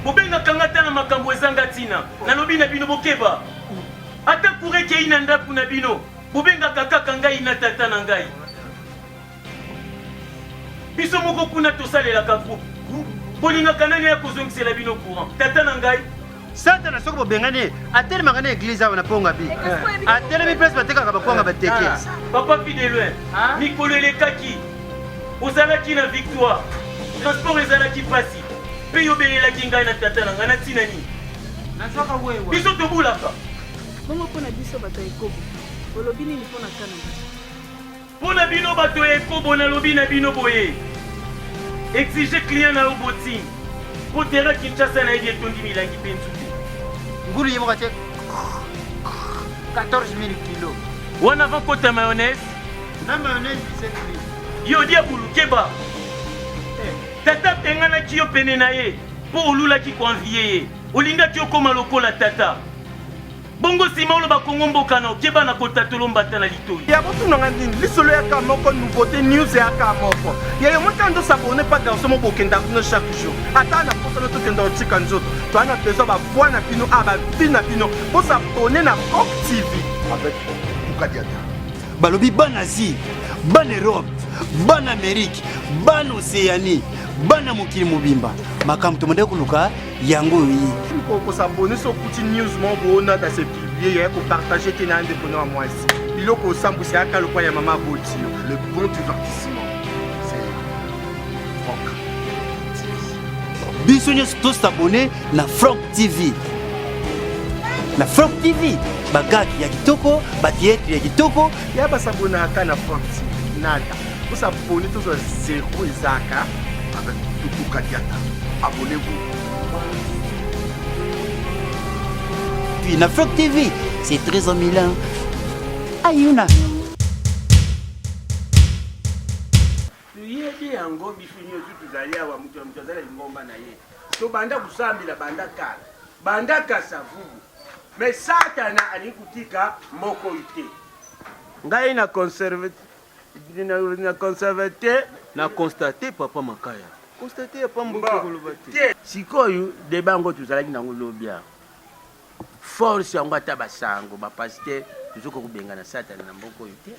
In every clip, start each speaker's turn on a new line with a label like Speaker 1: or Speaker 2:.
Speaker 1: bobengaka nga ata na makambo ezanga ntina nalobi na bino bokeba ata kure ekei na ndako na bino bobengaka kaka ngai na tata na ngai biso moko kuna tosalelaka groupe bolingaka nani ya kozongisela bino courant tata na ngai satana soki
Speaker 2: bobengani ye atelemaka na eglize awa na ponga bi eh, atelemi place batekaka bakwanga eh, bateke eh. papa fideloin
Speaker 1: ah. mikolo elekaki ozalaki na victoire transport ezalaki mpasi mpe yo obelelaki ngai na tata na ngai na ntina nini biso tobulaka bongo mpo
Speaker 3: na biso bato ya ekobo olobi nini mpo na kanada Mpo
Speaker 1: na bino bato ya ekobo, nalobi na bino boye, Exiger client na yo botine, mpo terrain Kinshasa nayebi etondi milangi mpe nzube. Ngulu ye moko
Speaker 2: atie 14000 kilo. Wana avant kota
Speaker 1: mayonnaise. Na
Speaker 2: mayonnaise 17000. Yo dia bulu keba.
Speaker 1: Eh. Tata abenganaki yo pene na ye mpo olulaki koanvie ye, olingaki okoma lokola tata. Bongo sima oloba Congo mboka na okeba na kotatolo mbata na litoyi. Ya botuna nga nini
Speaker 4: lisolo ya ka moko nouveauté news ya ka moko. Ya yo motana ndo s'abonner pas garçon mo bokenda kuna chaque jour. Ata na posa na tokenda otika nzoto. Toi na besoin ba voix na bino a ba vie na bino. Bo s'abonner na Coq TV. Avec
Speaker 5: Tukadiata. Balobi
Speaker 6: bana Asie, bana Europe, bana Amerique, bana Oceanie, bana mokili mobimba. Makambo tomandaki koluka yango oyo ye oko s'abonner so
Speaker 4: kuti news moko boona da se publier ya ko partager te na ndeko na mwasi biloko osambwisa yaka lokwa ya mama aboti yo le bon divertissement
Speaker 5: c'est Franck
Speaker 6: biso nyonso to s'abonner na Franck TV na Franck TV bagaki ya kitoko batheatre ya kitoko ya basabonaka
Speaker 4: na Franck TV nada Vous abonnez tous à zéro Isaka avec Tutu
Speaker 5: Kadiata. Abonnez-vous.
Speaker 6: Puis na Flock TV, c'est très en Milan. Ayuna.
Speaker 7: Yebi yango biso nyonso tozali awa moto ya moto azali na lingomba na ye tobanda kosambela banda kala banda kasavubu me satana alingi kotika moko te ngai na conserve na constate te na constate papa makaya constate ya pambo koloba te sikoyo deba yango tozalaki nango lobi awa force yango ata basango bapaster tozokoka kobengana satana na mboka oyo te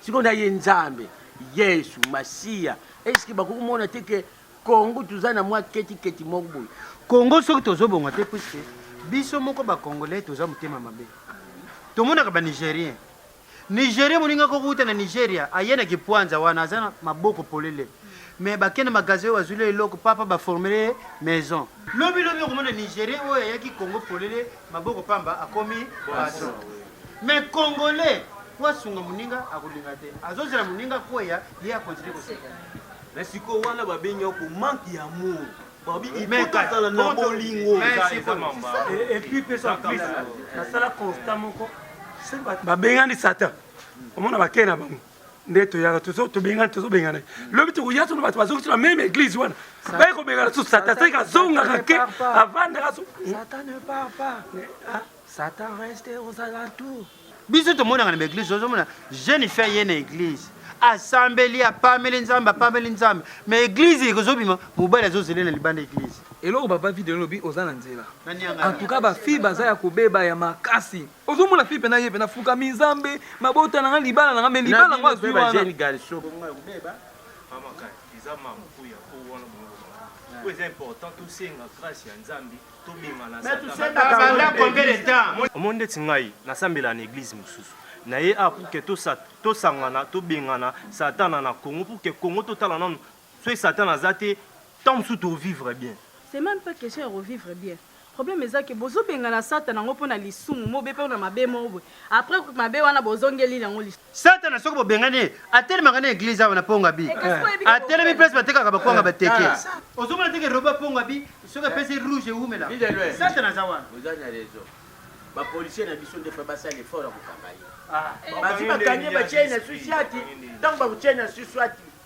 Speaker 7: sikoyo na ye nzambe yesu masiya eske bakoki komona te ke kongo toza na mwa ketiketi moko boye kongo soki
Speaker 2: tozobonga te puiske biso moko bacongolais toza motema mabe tomonaka banigérien Nigeria moninga ko kuta na Nigeria aye na kipwanza wana aza na maboko polele mais bake na magasin oyo bazwili ye eloko papa baformele ye maison lobi lobi okomona Nigeria oyo ayaki Congo polele maboko pamba akomi patron mais congolais po asunga moninga akolinga te azozela moninga kweya ye akontinue koseka mais sikoyo
Speaker 7: wana babengi yako manque ya amour babi ipota azala na
Speaker 2: bolingo
Speaker 1: epuis pesa plus nasala constat moko babengani satan omona bakei na bango nde toyaka tobengani tozobengana lobi tokoya sono bato bazongi sona meme église wana baye kobengana susu satan seke azongaka ke avandaka satan ne part pas satan reste aux alentours biso tomonaka
Speaker 2: na baeglise ozomona jeune fille ye na eglise asambeli apameli nzambe apameli nzambe ma eglise ekozobima mobali azozele na libanda eglise eloko papa video elobi
Speaker 8: oza na nzela antuka bafille baza ya kobeba ya makasi ozomona fille mpena ye mpena fukami nzambe mabota nanga libala nanga me libala yango azwi wana oyo
Speaker 1: eza important tosenga grâce ya nzambe
Speaker 2: omoni ndeti ngai
Speaker 1: nasambela na eglise mosusu na ye a ah, pour que tosangana tobengana satana na congo pour que congo totala nanu soki satana aza te ntango mosusu tovivre bien c'est même pas question
Speaker 3: ya revivre bien problème eza ke bozobengana satana yango mpo na lisumu mobe mpo na mabe moko boye Après coup mabe wana bozongeli nango lisusu. Satana soki bobengani
Speaker 2: ye atelemaka na eglise awa na Pongabi. Eh, Atelemi place batekaka bakwanga bateke. Ozomona teke roba Pongabi soki apesi rouge ewumela. Satana aza wana. Oza na raison.
Speaker 7: Ba policiers na biso ndefa basala effort ya kokanga ye. Ah. Bazi bakangi batye na susiati. Ntango bakotye na susiati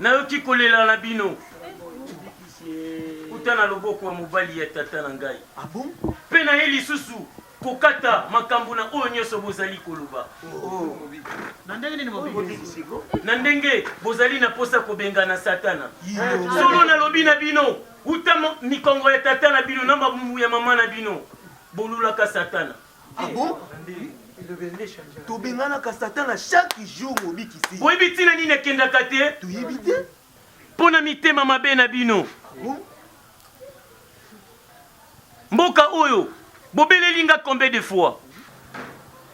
Speaker 2: Nayoki
Speaker 7: kolela na bino uta na loboko ya mobali ya tata na ngai, mpe naye lisusu kokata makambo na oyo nyonso bozali koloba. Na ndenge nini mobikisi? Na ndenge bozali na posa kobengana Satana. Solo nalobi na bino, uta mikongo ya tata na bino na mabumu ya mama na bino bolulaka Satana. Ah bon?
Speaker 4: tobenganaka satana chaque jour mobikisi boyebi ntina nini
Speaker 7: akendaka te toyebi te
Speaker 4: mpo na
Speaker 7: mitema mabe na bino ah mboka oyo bobeleli nga combien de fois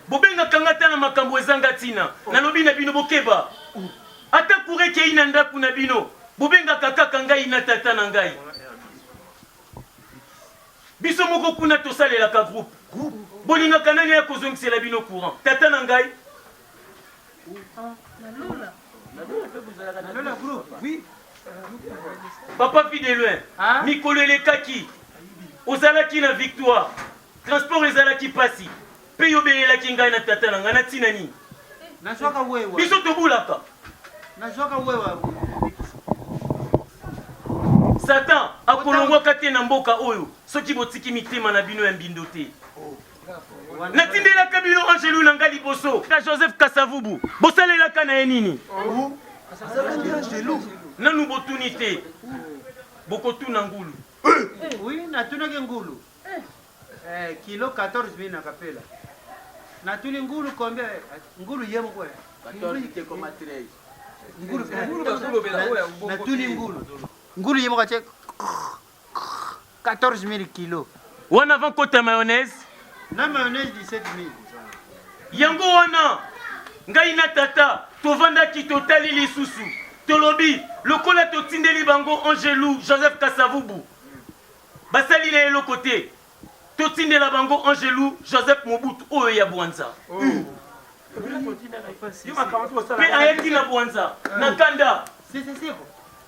Speaker 7: bobengaka nga ata na makambo ezanga ntina nalobi na bino bokeba ata kura ekei na ndako na bino bobengaka kaka ngai na tata na ngai Biso moko kuna tosalelaka groupe. Bolingaka nani aya kozongisela bino courant? Tata na ngai? Papa Fideloin, mikolo elekaki, ozalaki na victoire, transport ezalaki pasi. Mpe yo obelelaki ngai na tata na ngai na ntina nini? Biso tobulaka. Satan akolongwaka te na mboka oyo soki botiki mitema na bino ya mbindo te. Natindelaka bino angelu na ngai liboso na Joseph Kasavubu, bosalelaka na ye nini? Nanu botuni te, bokotuna ngulu. Oui,
Speaker 2: natunaki ngulu. Eh, kilo 14 mille na kapela. Na tuli ngulu combien? Ngulu ye moko. 14 te koma 13.
Speaker 7: Ngulu ngulu ba ngulu
Speaker 2: bela oya ngulu. Na tuli ngulu. Ngulu ye moko te 14 mille kilo. Wana avant kota
Speaker 7: mayonnaise? Na mayonnaise
Speaker 2: 17 mille.
Speaker 7: Yango wana ngai na tata tovandaki totali lisusu tolobi lokola totindeli bango angelou joseph kasavubu Basali naye eloko te. Totindela bango Angelu Joseph Mobutu oyo ya Bwanza. Pe ayaki na Bwanza na kanda.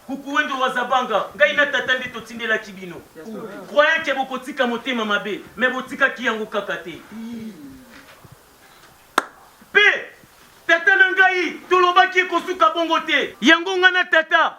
Speaker 7: Kukuwendo wa Zabanga, ngai na tata nde totindelaki bino. Croyant que bokotika motema mabe, mais botikaki yango kaka te. Pe tata na ngai tolobaki ekosuka bongo te. Yango ngai na tata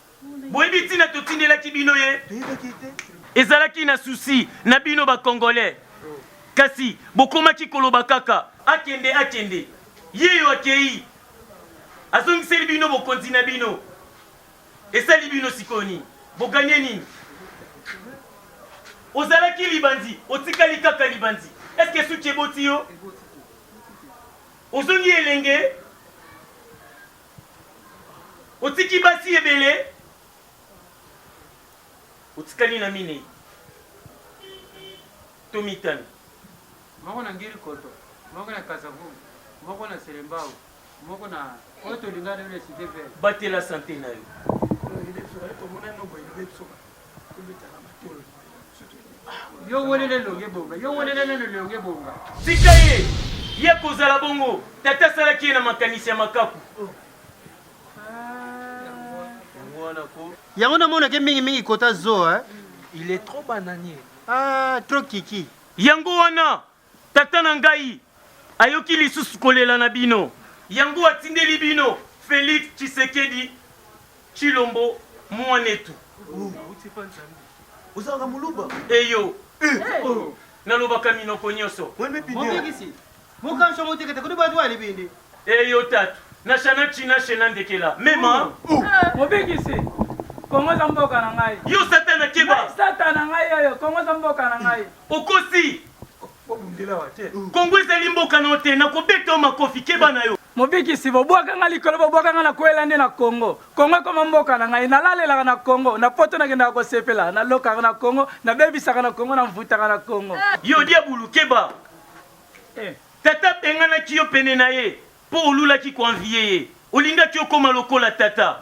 Speaker 7: Boyebi ntina totindelaki bino ye? Ezalaki na susi na bino ba Congolais, kasi bokomaki koloba kaka akende, akende. Yeyo akei, azongiseli bino bokonzi na bino. Esali bino sikoyo nini? Boganye nini? Ozalaki libanzi, otikali kaka libanzi. Est-ce que suki eboti yo? Ozongi elenge Otiki basi ebele, otikali na minei to mitano. Moko
Speaker 2: na Ngiri Koto, moko na Kasavubu, moko na Selembao, moko na oyo tolingana na Cite Verte. Batela sante na
Speaker 7: yo.
Speaker 2: yo welele longe bonga yo welele lelo longe bonga tika ye
Speaker 7: ye kozala bongo tata asalaki ye na makanisi ya makaku
Speaker 2: yango namonake mingimingi kota zo eh? il est trop
Speaker 8: bananier ah, trop
Speaker 2: kiki yango wana
Speaker 7: Tata na ngai ayoki lisusu kolela na bino, yango atindeli bino Felix Tshisekedi Tshilombo Mwanetu.
Speaker 4: Ozalaka muluba? Eyo.
Speaker 7: Eh, oh. Nalobaka minoko nyoso. Mobikisi.
Speaker 2: Mokanso motekete kodi batu ali bindi. Eyo tatu.
Speaker 7: Na shana china shena ndekela. Mema. Oh. Oh. Eh, mobikisi.
Speaker 9: Kongo za mboka na ngai. Yo satana keba.
Speaker 7: Satana ngai oyo.
Speaker 9: Kongo za mboka na ngai. Okosi.
Speaker 7: Bobundela wa te. Kongo ezali mboka na yo te, nakobeta yo makofi, keba na yo. Mobikisi, bobwaka nga
Speaker 9: likolo, bobwaka nga na kwela nde na Kongo. Kongo ekoma mboka na ngai, nalalelaka na Kongo, na poto nakendaka kosepela, nalokaka na Kongo, nabebisaka na Kongo, namvutaka na Kongo. Yo diabulu,
Speaker 7: keba. Eh.
Speaker 9: Tata
Speaker 7: abenganaki yo pene na ye mpo olulaki koanviye ye, olingaki okoma lokola tata.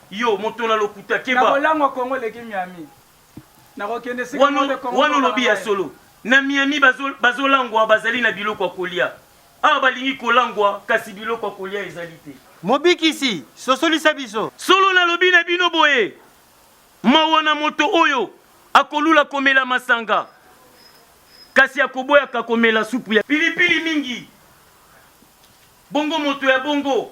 Speaker 7: Yo moto na lokuta keba. Nakolangwa Congo eleki
Speaker 9: Miami. Nakokende sika Wana moto Congo wana olobi ya
Speaker 7: solo. Na Miami bazo bazolangwa bazali na biloko ya kolia. Awa balingi kolangwa kasi biloko ya kolia ezali te. Mobikisi,
Speaker 2: sosolisa biso. Solo nalobi na bino
Speaker 7: boye, mawa na moto oyo akolula komela masanga kasi akoboyaka komela supu ya pilipili mingi. Bongo moto ya bongo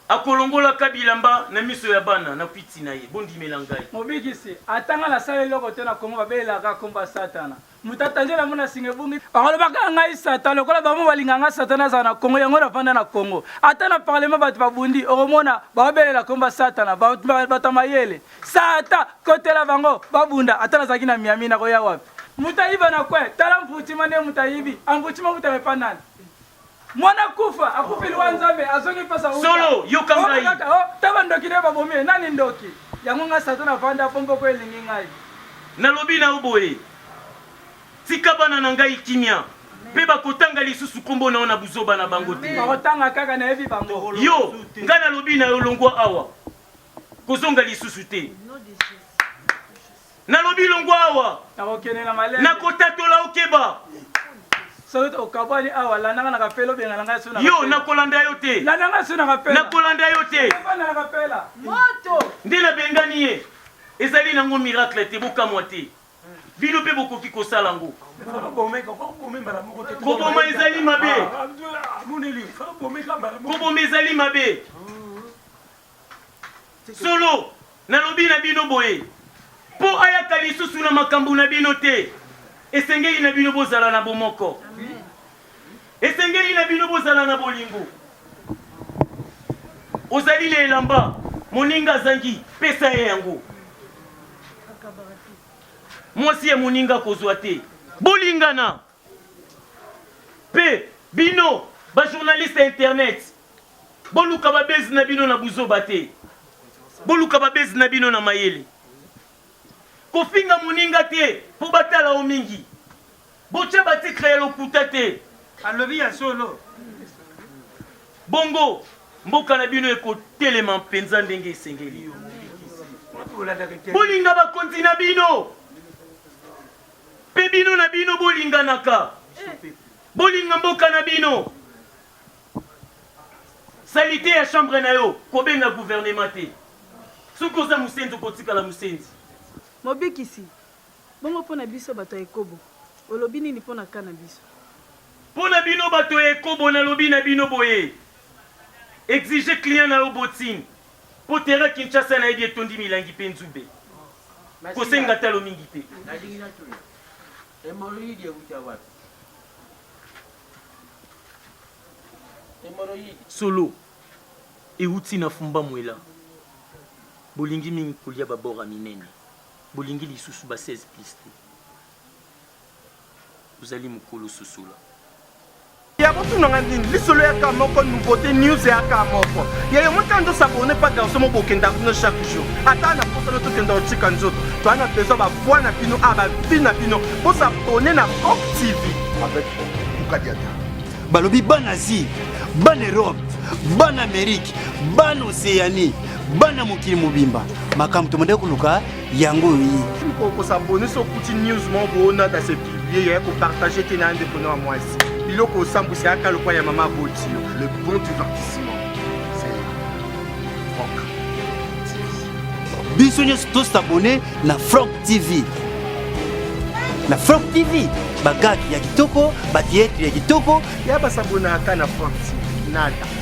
Speaker 7: akolongolaka bilamba na miso ya bana na kwiti na ye. Bondimela ngai. Mobikisi, ata
Speaker 9: nga nasala eloko te na Congo babelelaka kaka kombo ya satana. Moto atangela ngo na singa ebungi akolobaka ah ngai satan lokola bango balinga nga satana azala na Congo yango nafanda na Congo. Ata na parlement bato babundi okomona baobelela kombo ya satana bato ya mayele satan kotela bango babunda ata nazalaki na Miami nakoya wapi? Moto ayiba na kwe tala mputima nde moto ayibi amputima moto amepa nani? Mwana kufa akufi liwa Nzambe azongi mpasa uta. Solo, yoka ngai. Oyo
Speaker 7: kaka, oh, ta bandoki nde
Speaker 9: babomi ye. Nani ndoki? Yango ngai Satan navanda mpo mpoko elingi ngai. Nalobi na
Speaker 7: yo boye, tika bana na ngai kimia, mpe bakotanga lisusu nkombo na yo na buzoba na bango te. Bakotanga kaka nayebi
Speaker 9: bango. Yo, ngai nalobi
Speaker 7: na yo, longwa awa, kozonga lisusu te. Nalobi longwa awa. Nakokende na malembe.
Speaker 9: Nakotatola okeba.
Speaker 7: Soki
Speaker 9: okabwani awa landa nga na kapela obenga na ngai sona. Yo nakolanda yo
Speaker 7: te. Landa nga sona kapela.
Speaker 9: Nakolanda yo te.
Speaker 7: Landa nga kapela.
Speaker 9: Moto. Nde nabengani
Speaker 7: ye. Ezali nango miracle te bokamwa te. Bino mpe bokoki kosala yango. Koboma ezali mabe. Koboma ezali mabe. Solo, nalobi na bino boye, mpo ayaka lisusu na makambo na bino te, esengeli na bino bozala na bomoko. Esengeli na bino bozala na bolingo. Ozali na elamba, moninga azangi, pesa ye yango. Mwasi ya moninga kozwa te. Bolingana. Pe bino ba journaliste ya internet boluka ba buzz na bino na buzoba te, boluka ba buzz na bino na mayele. Kofinga moninga te po batala yo mingi, botia ba titre ya lokuta te. Alobi ya solo.
Speaker 2: Bongo
Speaker 7: mboka na bino ekotelema mpenza ndenge esengeli. Bolinga bakonzi na bino, Mpe bino na bino bolinganaka, bolinga mboka na bino. Salite ya chambre na yo, kobenga gouvernement te. Soki oza mosenzi, okotikala mosenzi. Mobikisi,
Speaker 3: bongo mpo na biso bato ya ekobo, olobi nini mpo na kaa na biso? Mpo na
Speaker 7: bino bato ya ekobo, nalobi na bino boye, exige client na yo botine, Po terrain Kinshasa nayebi etondi milangi pe nzube. Kosenga talo mingi te. Nalingi natuna. Hemorrhoïde ewuta wapi? Hemorrhoïde. Solo. Ewuti na fumba mwela. Bolingi mingi kolia ba bord ya minene. Bolingi lisusu ba 16 plus te. ozali mukulu susula
Speaker 4: ya botuna nga nini lisolo yaka moko nouveauté news yaka moko yayo motana tosabone pa garso mobokenda bino chaque jour ata na posana tokenda otika nzoto toa na besoin bavoi na bino a bavi na bino bosabone na cop tv avec
Speaker 5: ukadiata balobi
Speaker 6: bana asie bana europe bana amerike bana oceanie bana mokili mobimba makambo tomandaki koluka yango oyo ye oko s'abonner so
Speaker 4: kuti news moko boona da se publier ya ko partager te na ndeko na mwasi biloko osambwisa yaka lokwa ya mama aboti yo le bon divertissement
Speaker 5: c'est Franck TV
Speaker 6: biso nyonso to s'abonner na Franck TV na Franck TV bagaki ya kitoko ba theatre ya kitoko ya basabonaka
Speaker 4: na Franck TV nada